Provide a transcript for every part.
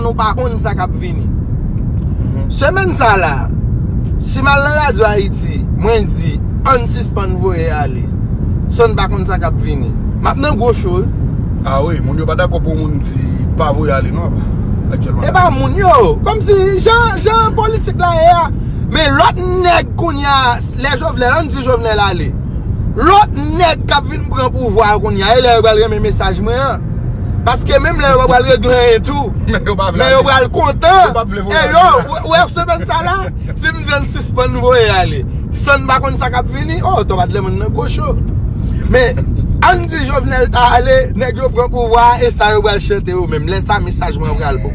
Nou pa konn sa kap vini. Semèn sa la, si mal nan radyo Ayiti, mwen di, ann sispann voye ale. San n pa konn sa kap vini. Map nan gwo cho wi. Ah wi, moun yo pa dakò pou moun di pa voye ale non apa. Aktyèlman. E pa moun yo. Kòmsi jan politik la ye a. Men lòt nèg kounya. Lè jovenel an di jovenel ale. Lot neg kap vin pran pouvwa yo kounya e lè yo pral renmen mesaj mwen an. Paske menm lè yo pa pral regle anyen tou. Men yo pa vle ale. Men yo pral kontan. Yo pap vle voye ale. Eyo, ou wè semèn sa la, si m di n sispann voye ale, san n pa konn sa kap vini, oh Top Adler moun nan gwo cho. Men, ann di jovenel ta ale, nèg yo pran pouvwa a e sa yo pral chante yo menm. Lè sa mesaj mwen an pral bon.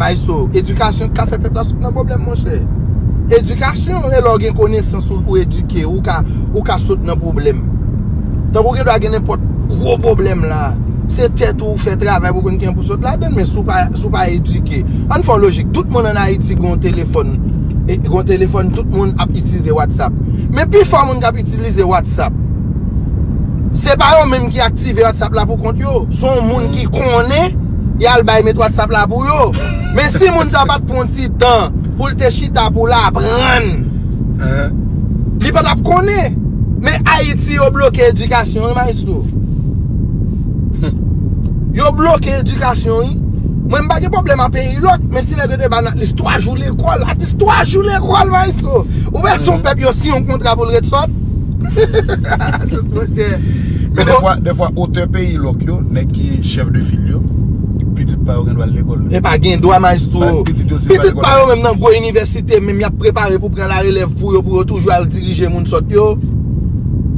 Maestro, edikasyon ki ka fè pèp la sot nan pwoblèm monchè. Edikasyon, e lè w gen konesans ou edike, ou ka sot nan pwoblèm. Donk ou gen dwa gen nenpòt gwo pwoblèm la, se tèt ou ou fè travay pou konn kijan pou sot ladann, men si w pa edike. Ann fè yon lojik, tout moun ann Ayiti gen yon telefòn, gen yon telefòn tout moun ap itilize WhatsApp. Men pi fò moun k ap itilize WhatsApp, se pa yo menm ki aktive WhatsApp la pou kont yo. Son moun ki konnen yal bay met watsap la pou yo men si moun sa pat pran ti tan poul te chita poul aprann li patap konnen men ayiti yo bloke edikasyon wi maestro yo bloke edikasyon wi mwen m pa gen pwoblèm a peyi lòt men si nèg yo te ban atlis 3 jou lekòl atlis 3 jou lekòl maestro ou wè son pèp yo siy yon kontra poul ret sòt. Tout mwen chè. Men defwa, defwa otè peyi lòk yo, nèg ki chèf de fil yo, pitit pa yo gen dwa al lekòl. E pa gen dwa maestro. Ba pitit yo si yo pa lekòl. Pitit pa yo menm nan gwo inivèsite menm yap prepare pou pran la relèv pou yo pou yo toujou al dirije moun sòt yo.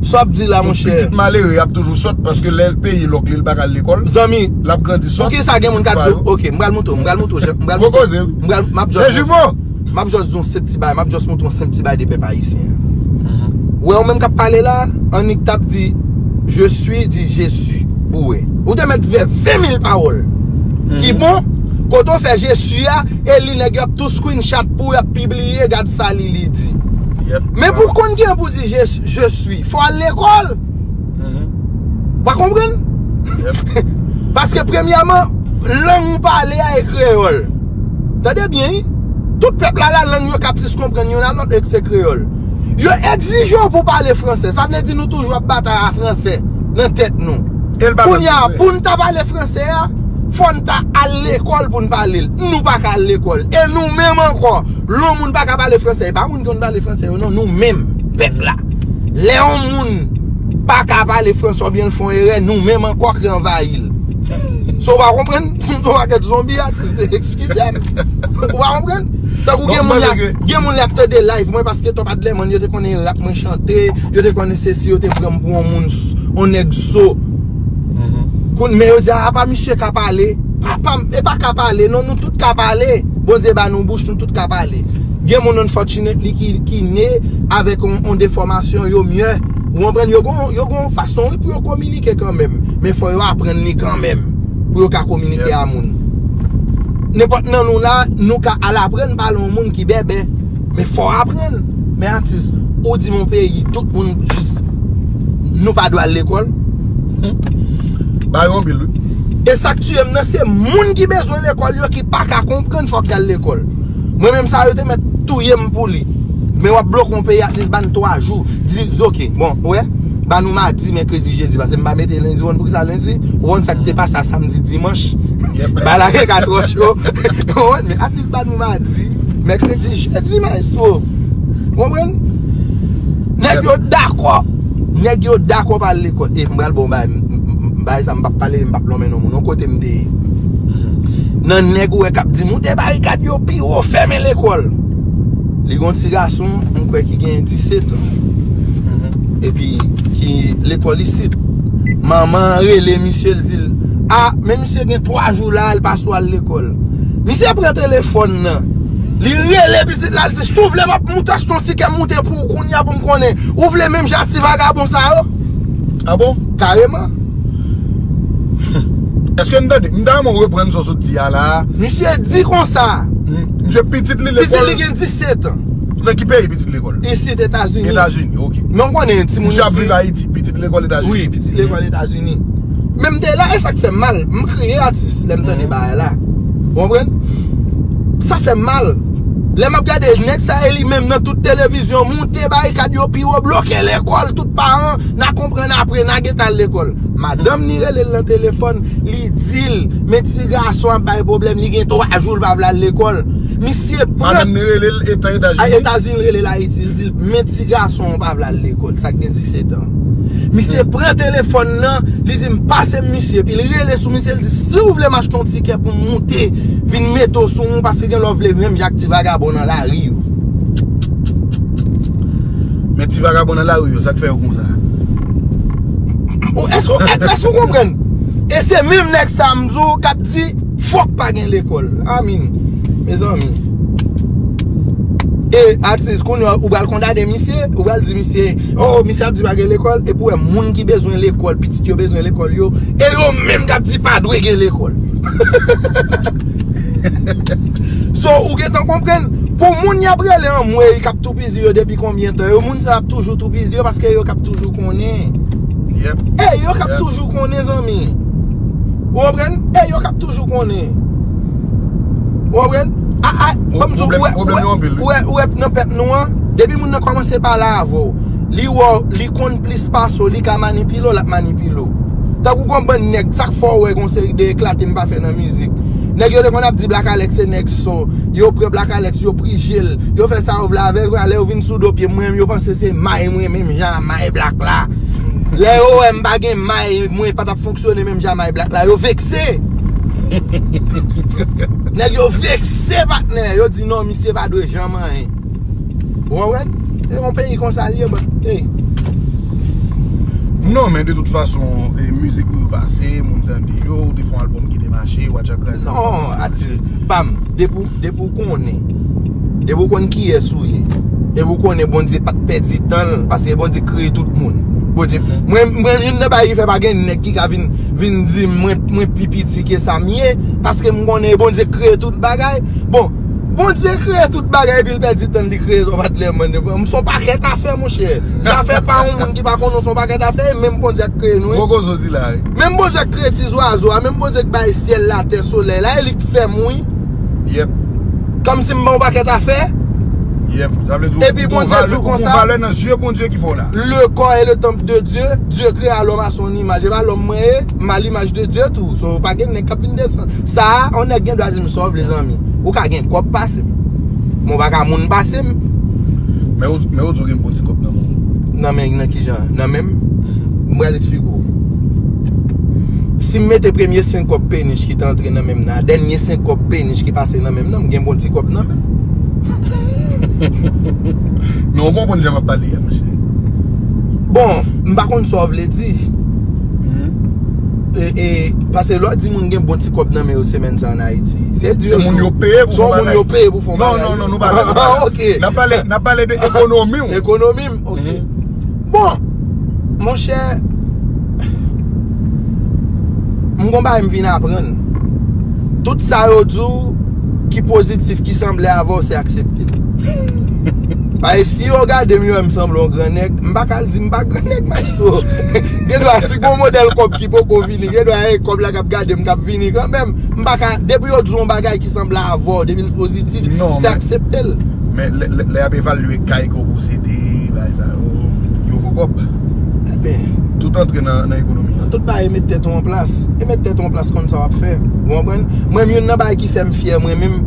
Sa wap di la monchè. Pitit malere yap toujou sòt paske lè peyi lòk li li paka al lekòl. Zanmi. Lap grandi sòt. Pou kisa gen moun kap di yo. Ok m pral moutre w, m pral moutre w jan, m pral moutre w. Gwo koze wi. M pral, map jwenn w. Lè jumo. M ap jòs di yon senp ti bagay, m ap jòs montre yon senp ti bagay de pèp ayisyen. Ou wè ou menm k ap pale la a, annik t ap di je suis, di Jesu pou wè. Ou te mèt fè 20 mil pawòl ki bon, kote ou fè je suis a, e li nèg yo ap tou screenshot pou yo ap pibliye gad sa li li di. Men pou w konn kijan pou w di je suis, fò w al lekòl! Wap konprann? Paske premyèman, lang ou pale a e kreyòl. Tande byen wi. Tout pèp la la lang yo ka plis konprann youn a lòt e se kreyòl. Yo egzije w pou pale franse. Sa vle di nou toujou ap batay a franse nan tèt nou. Kounya pou n ta pale franse a, fò n ta al lekòl pou n pale l. Nou pa ka al lekòl. E nou menm ankò, lè yon moun pa ka pale franse, e pa moun. Moun konn pale fransè yo non nou menm pèp la lè yon moun paka pale fransè ou byen l fon erè nou menm ankò ki anvayi l so ou pa konprann nou son pakèt zonbi atis ekskize m ou pa konprann tankou gen moun lap gen moun lap tande live mwen paske Top Adlerman yo te konnen rap mwen chante yo te konnen sesi yo te pran m pou yon moun yon nèg so koun men yo di a apa misye ka pale apa m e pa ka pale non nou tout ka pale Bondye ba nou bouch nou tout ka pale. Gen moun unfortunately ki ne avèk yon defòmasyon yo myè. Ou konprann? Yo gen yon fason wi pou yo kominike kanmenm. Men fò yo aprann li kanmenm pou yo ka kominike a moun. Nenpòt nan nou la, nou ka al aprann pale yon moun ki bèbè. Men fò w aprann. Men atis, ou di m yon peyi tout moun jis nou pa dwe al lekòl? Ba yo anpil wi. E sa k tiye m nan se moun ki bezwen lekòl yo ki pa ka konprann fò k y al lekòl. Mwen menm sa yo te mèt touyem pou li. Men wap bloke yon peyi at least bann 3 jou. Di ok bon ou wè ban nou madi, mèkredi, jedi pase m pa mete lendi wonn poukisa lendi ou wonn sak te pase a samdi dimanch. Ba la rega twò cho ou wonn men at least ban nou madi, mèkredi, jedi maestro. Konprann? Nèg yo dakò. Nèg yo dakò pa al lekòl. E m pral ba w yon bagay m bay sa m pap pale li m pap lonmen non moun. kote m te ye. Nan nèg ou wè kap di moute barikad yo pi wo fèmen lekòl. Li gon ti gason m kwè ki gen 17 an. E pi ki lekòl isit. Manman an rele misye l di l. A men misye gen 3 jou la l pa sou al lekòl. Misye pran telefòn nan. Li rele pitit la l di sou vle map moute achte yon tikè moute pou ou kounya pou m konnen. Ou vle menm jan a ti vagabon sa yo. A bon? Kareman. Eske n tande? M ta renmen w reprann sa w sot di a la a. Misye di konsa. Misye pitit li lekòl. Pitit li gen 17 an. Nan ki peyi pitit li lekòl? Isit, Etazini. Etazini, ok. Men w konnen timoun isit. Misye ap viv Ayiti, pitit li lekòl Etazini. Wi, pitit li lekòl Etazini. Men m te la, e sa k fè m mal. M kriye atis lè m tande bagay la. Ou konprann? Sa fè m mal. Lè m ap gade nèg sa e li menm nan tout televizyon moute barikad yo pi wo, bloke lekòl, tout paran nan. aprann apre nan gentan al lekòl. Madanm ni rele l nan telefòn, li di l, men ti gason an ap bay pwoblèm, li gen 3 jou l pa vle al lekòl. Misye pran. Madanm ni rele l etan Etazini. A Etazini, l rele l Ayiti, l di l, men ti gason an pa vle al lekòl, sa k gen 17 an. Misye pran telefòn nan, li di m, pase m misye. Epi l rele sou misye, l di, si w vle m achte yon tikè pou m moute, vin mete w sou m, paske gen lè w vle menm jan ak ti vagabon nan lari yo. Men ti vagabon nan lari yo sak fè yo konsa. Bon èske ou konprann? E se menm nèg sa m di w kap di fòk pa gen lekòl. A min. Mezanmi. E atis kounye a ou bal kondane misye, ou bal di misye, oh misye ap di pa gen lekòl epi ou wè moun ki bezwen lekòl, pitit yo bezwen lekòl yo, e yo menm kap di pa dwe gen lekòl. So ou gentan konprann pou moun yap rele anmwey kap. Toupizi yo depi konbyen tan? Yo moun sa ap toujou toupizi yo paske yo kap toujou konnen. Yep. E yo kap toujou konnen zanmi. Ou konprann? E yo kap toujou konnen. Ou konprann? A a, banm di ou, problem yo anpil wi. Ou wè nan pèp nou an, depi moun nan kòmanse pale avè w, li wè w, li konn plis pase w, li ka manipile w, lap manipile w. Tankou gon bann nèg, sak fè w wè gon seri de eklate m pa fè nan mizik. Nèg yo te konn ap di Black Alex se nèg so, yo pran Black Alex, yo prije l. Yo fè sa yo vle avèl kounya lè yo vin sou do pyem mwen menm yo panse se may mwen menm jan a may black la lè yo wèm pa gen may mwen pa tap fonksyone menm jan a may black la yo vekse nèg yo vekse patnè yo di non misye pa dwe jan manyen ou konprann se yon peyi konsa li ye but hey. Non men de tout fason mizik ou yo pase moun tande yo ou te fon album ki te mache watcha kraze non atis pam depi ou. Depi ou konnen, depi ou konn kiyès ou ye, depi ou konnen Bondye pa t pèdi tan l, paske Bondye kreye tout moun. Bondye, mwen, mwen youn nan bagay ki fè pa gen nèg ki ka vin, vin di m mwen, mwen pi piti ke sa m ye, paske m konnen Bondye kreye tout bagay. Bon, Bondye kreye tout bagay epi l pèdi tan l, li kreye zòb at lèman yo. Bon, s on pakèt afè monchè. Zafè pa yon moun ki pa konnen w s on pakèt afè, e menm Bondye k kreye nou yo. Gwo koze w di la wi. Menm Bondye k kreye ti zwazo a, menm Bondye k bay syèl, latè, solèy la, e li k fè m wi. Yep. Kòm si m ban w pakèt afè. Yep. Sa vle di w. Epi bon Dye di w konsa. Ou valè nan zye bon Dye ki fè w la. Le kò e le tanp de Dye. Dye krea lòm a son imaj. Epa lòm mwen ye. M a limaj de Dye tou. So pa gen nèg k ap vin desan. Sa a on nèg gen dwa di m sa w vle zanmi. Ou ka gen kòb pase m. Men w pa ka moun pase m. Men ou di w gen bon ti kòb nan men w. Nan men nan ki jan? Nan men m? M pral esplike w. Si m mete premye senk kòb peni. ki te antre nan men m nan. Dènye 5 kòb penich ki pase nan men m nan. M gen bon ti kòb nan men. Men ou konprann jan m ap pale a mesye. Bon, m pa konn sa ou vle di. E, pase lè ou di moun gen bon ti kòb nan men yo semèn sa an Ayiti. Se di yo sou. Se moun yo peye pou fon bagay. Se moun yo peye pou fon bagay. Non, non, non, nou pa la. N ap pale de ekonomi ou. Ekonomi m. Ok. Bon, mon chè, m gon bagay m vin aprann. Tout sa yo di w ki pozitif, ki sanble avè w, se aksepte. Paske si yo gade m, yo wè m sanble yon gran nèg, m pa ka al di m pa gran nèg maestro. Gen dwa si gon modèl kòb ki poko vini, gen dwa e kòb la k ap gade m k ap vini kanmenm. M pa ka, depi yo di w yon bagay ki sanble avè w, depi l pozitif, se aksepte l. Men lè y ap evalye kay. Fòk ou sede bagay sa yo. Yo vo kòb. Enben. Tout antre nan ekonomi. Nan tout bagay met tèt ou an plas. E met tèt ou an plas konn sa wap fè. Ou anprann? Mwen menm youn nan bagay ki fèm fyè mwen menm.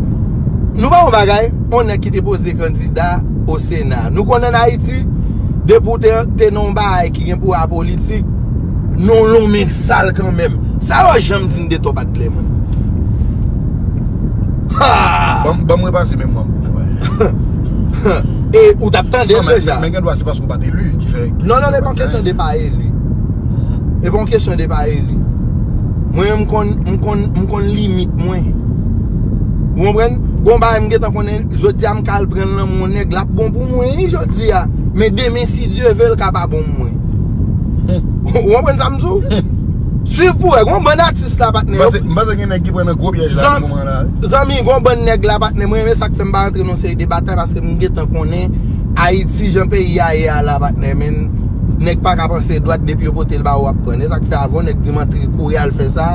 Nou pa wè yon bagay? On nèg ki te poze kandida o sena. Nou konn an Ayiti, depi ou te nan yon bagay ki gen pou wè a politik, non lon men sal kan menm. Sa yo janm di n de Top Adler menm? Haa! Banm repase memwa m pou mwen. E ou tap tande l deja. Men gen dwa se paske ou pat eli ki fè. Non non e pa yon kesyon de pa eli. E pa yon kesyon de pa eli. Mwen menm m konn m konn limit mwen. Ou konprann? Gon bagay m gentan konnen jodi a m ka al pran l nan men yon nèg lap bon pou mwen wi jodi a. Men demen si Dye ve l ka pa bon pou mwen. Ou konprann sa m di w? Swiv pou w wè. Gon bann atis la patnè. M panse gen nèg ki pran nan gwo pyèj la nan moman an. Zanmi gon bann nèg la patnè mwen renmen sak fèm pa rantre nan seri de batay paske m gentan konnen ayiti jan peyi a ye a la patnè menn nèg paka panse dwat depi yo potel ba ou wap pran esak fè avan nèg dim antre kouri al fè sa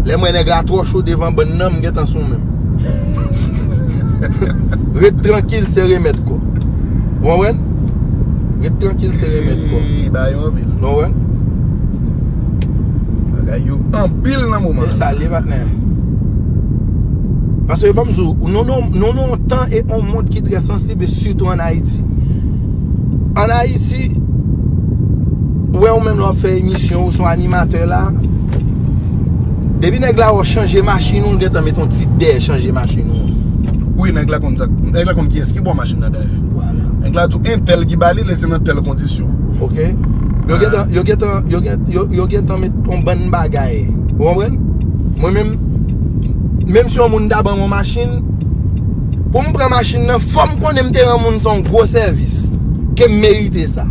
lèm wè nèg la trò cho devan bann nan m gentan sou menl ret trankil se remèd kò ou konprann ret trankil se remèd kò ou konprann bagay yo anpil nan moman sa. Paske banm di w, nou nan yon tan e yon mond ki trè sansib e sitou an Ayiti. An Ayiti, ou wè ou menm lè w ap fè emisyon ou son animatè la, depi nèg la wè w chanje machin ou, l gentan met yon ti dè chanje machin ou. Wi, nèg la konn sa, nèg la konn kiyès ki bò machin nan dèyè. Nèg la di w entèl ki ba li, lè se nan tèl kondisyon. Ok. Yo gentan, yo gentan, yo gentan. yo gentan met yon bann bagay. Ou konprann? Mwen menm, menm si yon moun ta banm yon machin, pou m pran machin nan, fò m konnen m te rann moun sa yon gwo sèvis, ke m merite sa.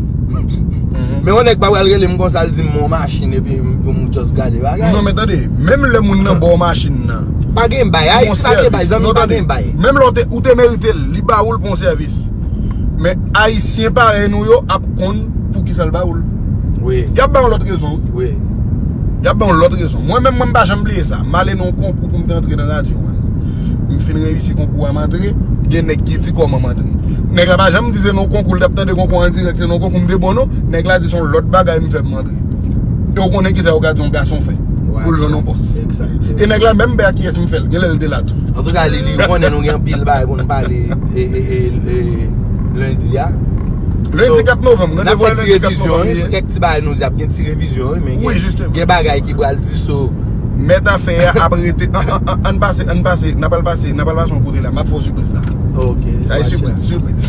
Men yon nèg pa pral rele m konsa l di m m yon machin epi pou m just gade bagay. Non men tande, menm lè moun nan ba w machin nan. Pa gen bay, Ayiti pa gen bay, zanmi pa gen bay. Menm lè ou te merite l, li ba ou l pou yon sèvis. Men Ayisyen parèy nou yo ap konn. poukisa l ba ou l. Y ap ba yon lòt rezon. Y ap ba yon lòt rezon. Mwen menm mwen m pa janm bliye sa. M ale nan yon konkou pou m te antre nan radyo a. M fin reyisi konkou a m antre. Gen nèg ki di kòman m antre. Nèg la pa janm di se nan yon konkou l t ap tande konkou an dirèk se nan yon konkou m te bon non. Nèg la di se yon lòt bagay m fè pou m antre. E ou konnen kisa yo ka di yon gason fè pou l jwenn yon pòs. E nèg la menm bay ak kiyès m fè l. Gen lè l te la tou. Antouka li konnen nou gen anpil bagay pou nou pale lendi a. Lendi 4 novanm nan. N ap fè ti revizyon wi sou kèk ti bagay nou di. Ap gen ti revizyon wi men gen bagay ki pral di sou. Mèt afè a ap rete. An n pase, an n pase. N ap al pase, n ap al pase yon kote la. M ap fè w sipriz la. Ok. Sa e sipriz, sipriz.